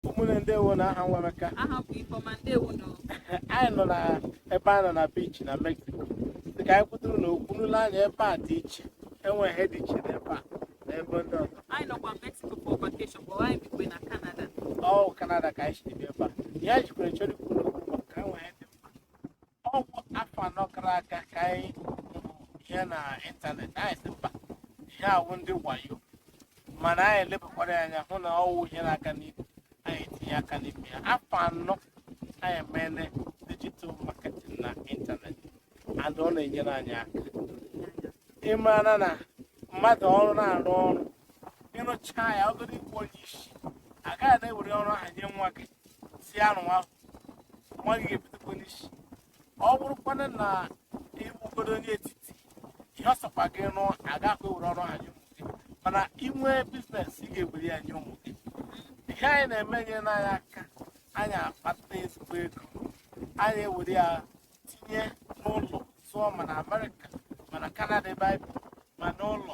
ụmụnne ndewo nụ aha m wụ emeka aha m bụ ifeọma ndewo nụ anyị nọ na ebe a nọ na beach na mexico dị ka anyị kwuturu na okwu unu lee anya ebe a dị iche enweghị ihe dị iche n'ebe a na ebe ndị ọzọ anyị nọkwa mexico for vacation but anyị bikwa na canada ọ kanada ka anyị si bịa ebe a ihe anyị jikwara chọrọ ikwu n'okwu maka enwe ihe ọ wụ afọ anọ gara aga ka anyị hụrụ ihe na ịntanetị anyị sị mba ihe a wụ ndị wayo mana anyị elebakwara ya anya hụ na ọ wụ ihe na-aga n'ihu anyị etinye aka n'ime ya afọ anọ anyị emene digital marketing na ịntanetị and ọ na-enyere anyị aka ị mara na mmadụ ọrụ na-arụ ọrụ ị rụchaa ya ọ bụrụ ị wụ onye isi agaghị na-ewere ọrụ ahụ nye nwa gị sị ya rụwa nwa gị ga-ebidokwa n'isi ọ bụrụkwana na ị bụgodo onye etiti ihe ọ sọkwa gị rụọ agaghị ewere ọrụ ahụ nye ụmụ gị mana i nwee biznes ị ga-ewere ya nye ụmụ gị ihe anyị na-eme enyene anyị aka anyị akpata ezigbo ego anyị ewere ya tinye n'ụlọ zụọ ma na amerịka ma na kanada ebe anyị bi ma n'ụlọ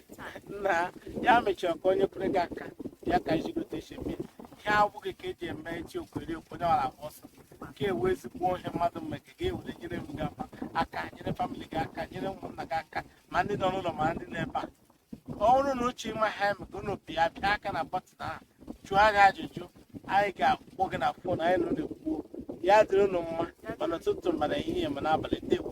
na ya mechara ka onye kwere gị aka ya ka ijigote esi eme ihe abụghị ka eji eme echi okwere ekwu onye wara agba ọsọ nke a wụ ezigbo ihe mmadụ mgbe ka gị ewere nyere onwe gị aka nyere famịlị gị aka nyere ụmụnna gị aka ma ndị nọ n'ụlọ ma ndị nọ ebe a ọ bụrụ na unu chọọ ịma ha eme ka unu pịa pịa aka na bọtịn ahụ jụọ anyị ajụjụ anyị ga-akpọ gị na fon anyị na unu ekwuo ya dịrị unu mma ma n'ụtụtụ ma n'ehihie ma n'abalị ndewo